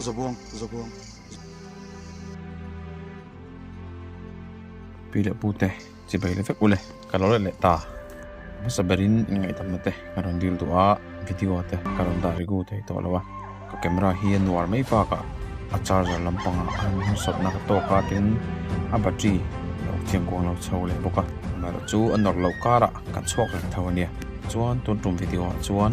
Zabuang, zabuang. Pi le pu te, chi bai le vek u le, ka lo let leh ta. Hmasa berin in ngai tam na te, ka rawn dil duh a, video te ka rawn dah ri gu thei tawh lo a. Ka camera hi a nuar mai bak a, a charger lampang ah khan hmu sawt na ka tawk a, tin a battery lo chiang kuang lo chho leh bawk a. Camera chu a nawr lo kar ah ka chhuak reng tho a nia. Chuan tun tum video ah chuan,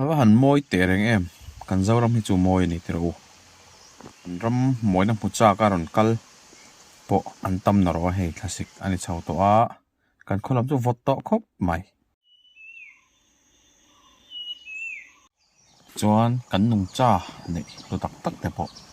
Ava han mawi teh reng em? Kan Zoram hi chu mawi a ni tiro u. An ram mawina hmu chak a rawn kal pawh an tam na rawh a hei thlasik a ni chho tawh a, kan khaw lam chu vawt tawh khawp mai. Chuan kan nungcha neih lutak tak te pawh.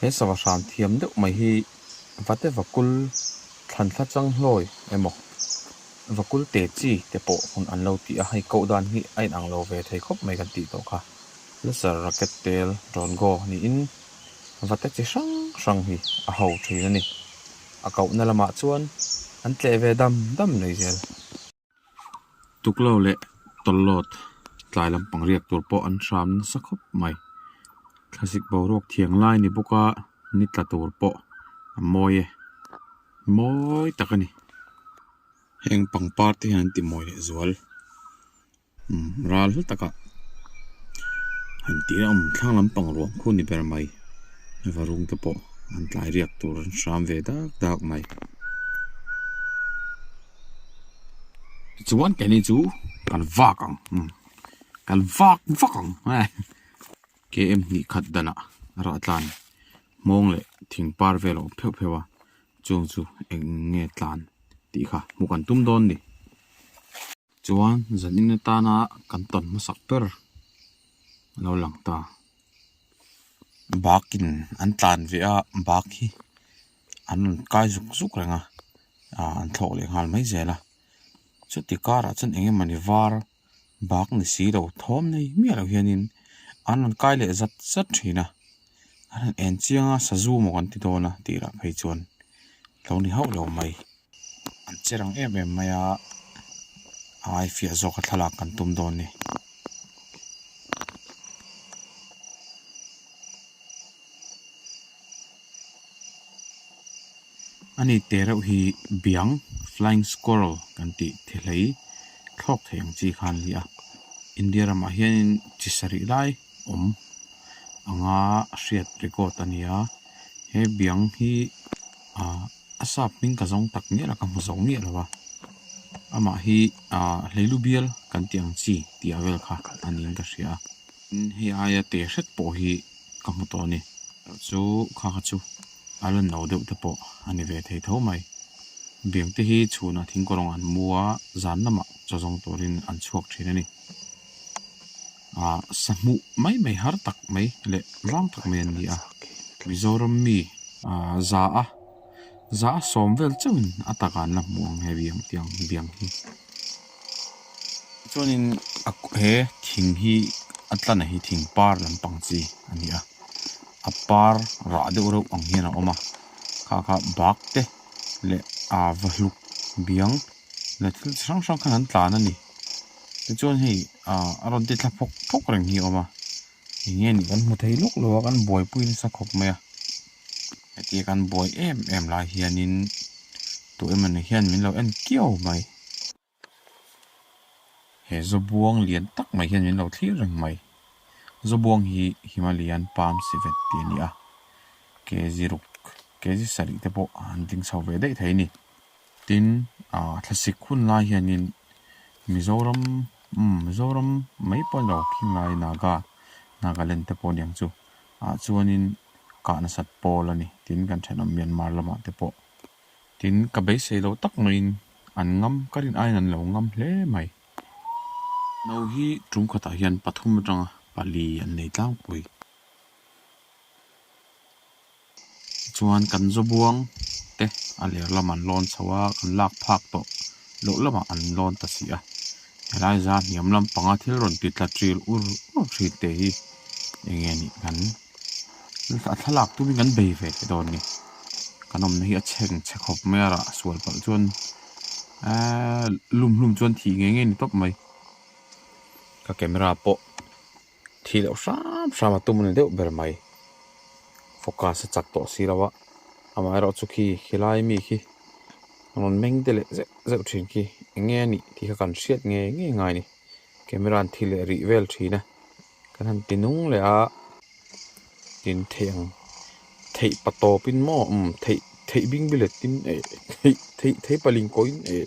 He sava hran thiam deuh mai hi vate vakul thlan thla chang hlawi emaw vakul te chi te pawh hun an lo ti a, hei koh dan hi a inang lo ve thei khawp mai kan tih tawh kha. Laser racket tel drawn go niin vate chi hrang hrang hi a ho thin a ni. A koh na lamah chuan an tleh ve dam dam nei zel. tuklo leh tawlawt tlai lampang riak tur pawh an hram nasa khawp mai thlasik boruak thiang lai a ni bawk a ni tla tur pawh a mawi e mawi tak a ni heng pangpar te hian an timawi leh zual umm ral hla taka han ti reuh a awm thleng lampang ruang khun ni ber mai va rawng te pawh an tlai riak tur an hram ve dak dak mai. Tichuan kei ni chu kan vak ang, kan vak vak ang eh. KM hnih khat danah rah tlan hmawng leh thing par vel a awm pheuh pheuh a, chung chu eng nge tlan tih kha hmuh kan tum dawn ni. Chuan zanin atana kan tawn hmasak ber a lo lang ta. Bakin an tlan ve a, bak hi. an rawn kai zuk zuk reng a ah an thlawh leh nghal mai zel a chuti karah chuan eng emawni var bak ni si lo thawm mai miah loh hian in an rawn kai leh zat zat thin a an rawn en chiang a sazu maw kan ti dawn a tih rah phei chuan a lo ni hauh loh mai. An che rang em em mai a, ai fiah zawka thlalak kan tum dawn ni. Ani te reuh hi biang flying squirrel kan tih the hlei thlawk thei ang chi khan nia India ramah hianin chi sarih lai awm anga hriat record a nia he biang hi-- ah a sap hming ka zawng tak miah la ka hmu zo miah lo a amah hi ah hleilu bial kan tih ang chi tih ah vel kha a ni in ka hria a tin hei a aia te hret pawh hi ka hmu tawh a ni kha chu kha kha chu a lan no deuh te pawh a ni ve thei tho mai beng te hi chhun ah thingkaw rawng an mu a zan lamah chaw zawng tur in an chhuak thin a ni. Aah sahmuh mai mai har tak mai leh vang tak mai an ni a, Mizoram mi aah za a za a sawm vel chauhin a tak an la hmu ang he biang tiang biang hi. Chuanin a he thing hi a tla na hi thing par lampang chi a ni a, a par rah deuh reuh ang hian a awm a, kha kha bak te leh aah vahluk biang leh thil chi hrang hrang khan an tlan a ni. Tichuan hei a rawn ti thla phawk phawk reng hi a awm a, eng nge nih kan hmu thei lawk lo a, kan buaipui nasa khawp mai a. Hetiang kan buai em em lai hianin tawh em anih hian min lo en kiau mai. He zabuang lian tak mai hian min lo thlir reng mai. Zabuang hi Himalayan Palm Civet tih a ni a, kezi ruk, kezi sarih te pawh an ding chho ve daih thei a ni. Tin, thlasik hun lai hianin Mizoram, umm, Mizoram mai pawhin lo khing lai, Naga, Nagaland te pawh aniang chu, ah chuanin kah nasat pawl a ni, tin kan thenawm Myanmar lamah te pawh. Tin, ka beisei lo tak maiin an ngam, ka rin aiin an lo ngam hle mai. No hi tum khatah hian pathum atanga pali an nei tlangpui. Chuan kan Zobuang te a lirlam an lawn chho a, kan lak phak tawh loh lamah an lawn ta si a. Helai zan hniam lam panga thil rawn ti tla ṭil ur ur ṭhin te hi eng nge nih kan a thlalak tumin kan bei ve teh dawn ni. Kan awmna hi a chheng chhe khawp mai a rah sual palh chuan lum hlum chuan thih ngei ngei ni tawp mai. Ka camera pawh. Thi loh hram hram a tum ni deuh ber mai. Focus a chak tawh si lo a, amaherawh chu khi khilai mi khi a rawn meng de leh zeuh zeuh thin khi eng nge a nih tih kha kan hriat nge ngei ngai a ni. Camera an thil leh rih vel thin a, kan han ti nung leh a, tin theih ang theih pa tawpin maw um theih theih bing biletin eh theih theih theih pa lingkawin eh.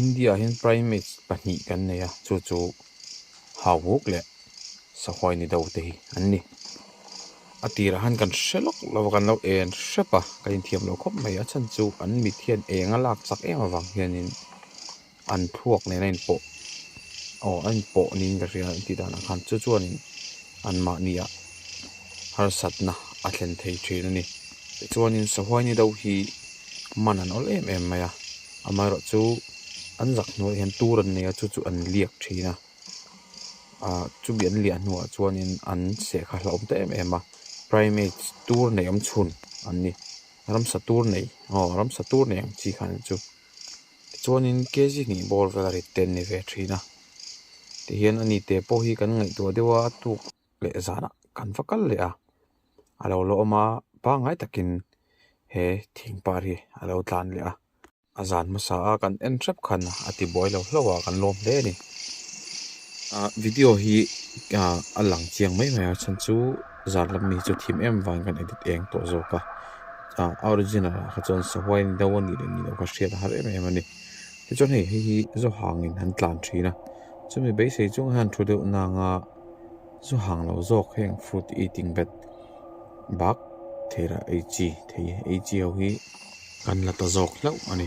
India hian primates pahnih kan nei a, chu chu Hauuk leh Sahuai ni do te hi an ni. A tirah han kan hre lawk lo a, kan lo en hrep a, kan inthiam lo khawp mai a, a chhan chu an mit hian eng a lak chak em avang hianin an thluak nena inpawh aw a inpawh niin ka hria a intih danah khan chu chuanin anmahnia harsatna a thlen thei thin a ni. Tichuanin Sahuai ni do hi-- man an awlh em em mai a amaherawh chu an zak hnuai ah hian tur an nei a chu chu an liak thin a ah chumi an liah hnuah chuanin an seh kha hlauhawm ta em em a primate tur nei awm chhun an ni ramsa tur nei aw ramsa tur nei ang chi khan chu tichuanin K G hnih bawr vel a rittem ni ve thin a tihian ani teh pawh hi kan ngaihtuah deuh a a tuk-- leh zanah kan va kal leh a, a lo la awm a pangngai takin he thing par hi a lo tlan leh a, a zan hmasa a kan en hrep khan a ti buai lo hlauh a kan lawm hle a ni. Ahh video hi ahh a lang chiang mai mai a chhan chu zan lam mi chu thim em vang kan edit eng tawh zawk a, ahh original ah kha chuan sahuai ni deuh a nih leh ni loh kha hriat a harh em em a ni, tichuan hei hei hi Zauhangin an tlan thin a chumi beisei chunga hian thu deuh na anga. Chu hang lo zawk heng fruit eating vet bak thei rah ei chi thei ei chi ho hi kan la ta zawk hlauh a ni.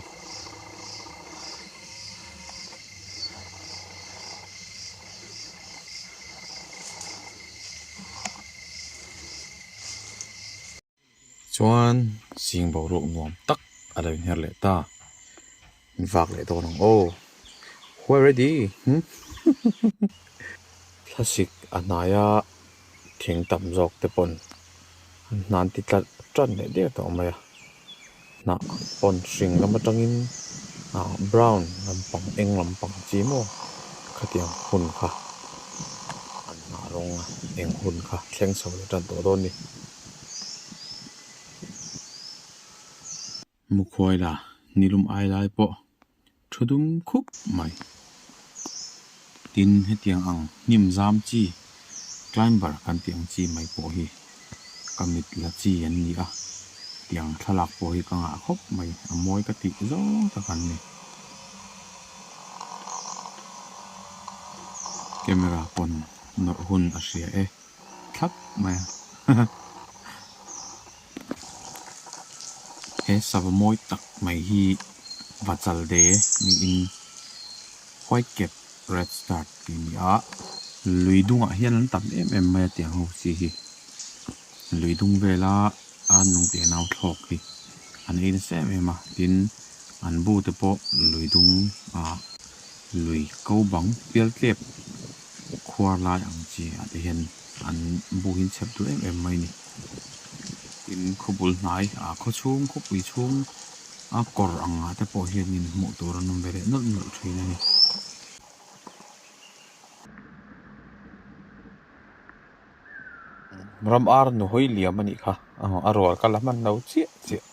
Chuan zing boruak nuam tak a lo inher leh ta. Min fak leh dawn ang aw. Who are ready? Thlasik a hnaia thing tam zawk te pawn an hnan ti tlat tan leh diau tawh mai a. Hnah pawn hring lam atangin ah brown lampang eng lampang chi maw khatiang hun kha an hnah rawng a eng hun kha thleng chho lo tan tawh dawn ni. Mukhuaila nilum ai lai pawh thu dum khup mai. Tin, hetiang ang hnim zam chi, climber kan tih ang chi mai pawh hi ka mit la chi an ni a tiang thlalak pawh hi ka ngah khawp mai. A mawi ka tih zawng tak an ni. Camera pawn nawrh hun a hria e, thlap mai a. He sava mawi tak mai hi Vachalde niin white cap red start tih ni a, lui dungah hian an tam em em mai a tiang ho si hi. Lui dung vela a nung teh nau thlawk hi an ei nasa em em a, tin an bu te pawh lui dungah lui ko bang pial tlep. Khuar lai ang chi a te hian an buhin chep duh em em mai ni. Tin, khawbul hnai, a khaw chhung, khawpui chhung a kawr ang ah te pawh hian in hmuh tur an awm ve leh nawlh nawlh thin a ni. Ram ar nu hawi liam a nih kha, a rual ka la hman lo chiah chiah.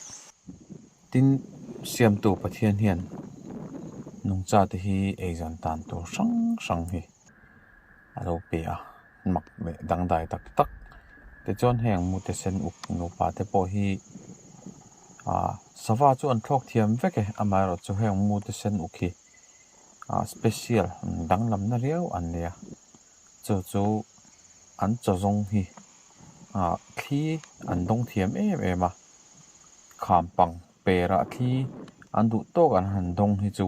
Tin, Siamtu Pathian hian nungcha te hi ei zan tan tur hrang hrang hi a lo pe a, mak leh dangdai tak tak te chuan heng mute sen uk nupa te pawh hi aa sava chu an thlawk thiam vek e, amaherawh chu heng mute sen uk hi aa special danglamna riau an nia. Chu chu an chaw zawng hi ah thli an dawng thiam em em a, kham pang perah thli an duh tawk an han dawng hi chu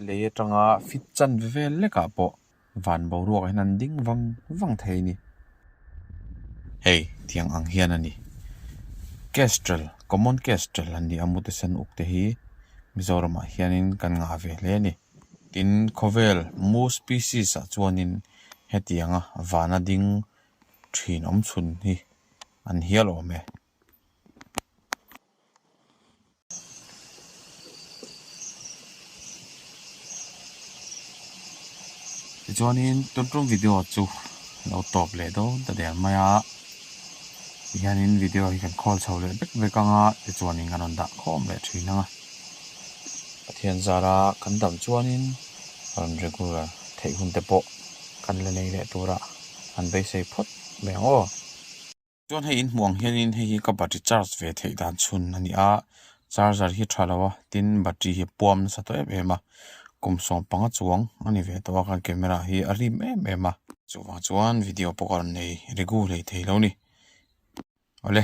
lei atanga fit chan ve vel lekah pawh van boruak hian an ding vang vang thei a ni. Hei tiang ang hian a ni. Kestrel, Common Kestrel an nih a mutesen uk te hi Mizoramah hianin kan ngah ve hle a ni. Tin, khawvel mu species-ah chuanin hetianga vana ding thinawm chhun hi an hial awm e. Tichuanin, tun ṭum video chu lo tawp leh dawn ta der mai a. Tihianin video hi kan khawl chho leh vek vek anga tichuanin kan rawn dah khawm leh thin ang a. Pathian zara kan damh chuanin rawn regular theih hun te pawh kan la nei leh tura an beisei phawt mai ang aw. Chuan hei in hmuh ang hianin hei hi ka battery charge ve theih dan chhun a ni a, charger hi tha lo a tin battery hi puam nasa tawh em em a, kum sawm panga chuang a ni ve tawh a, kan camera hi a rim em em a. Chuvang chuan video pawh ka rawn nei regu hlei thei lo ni awle.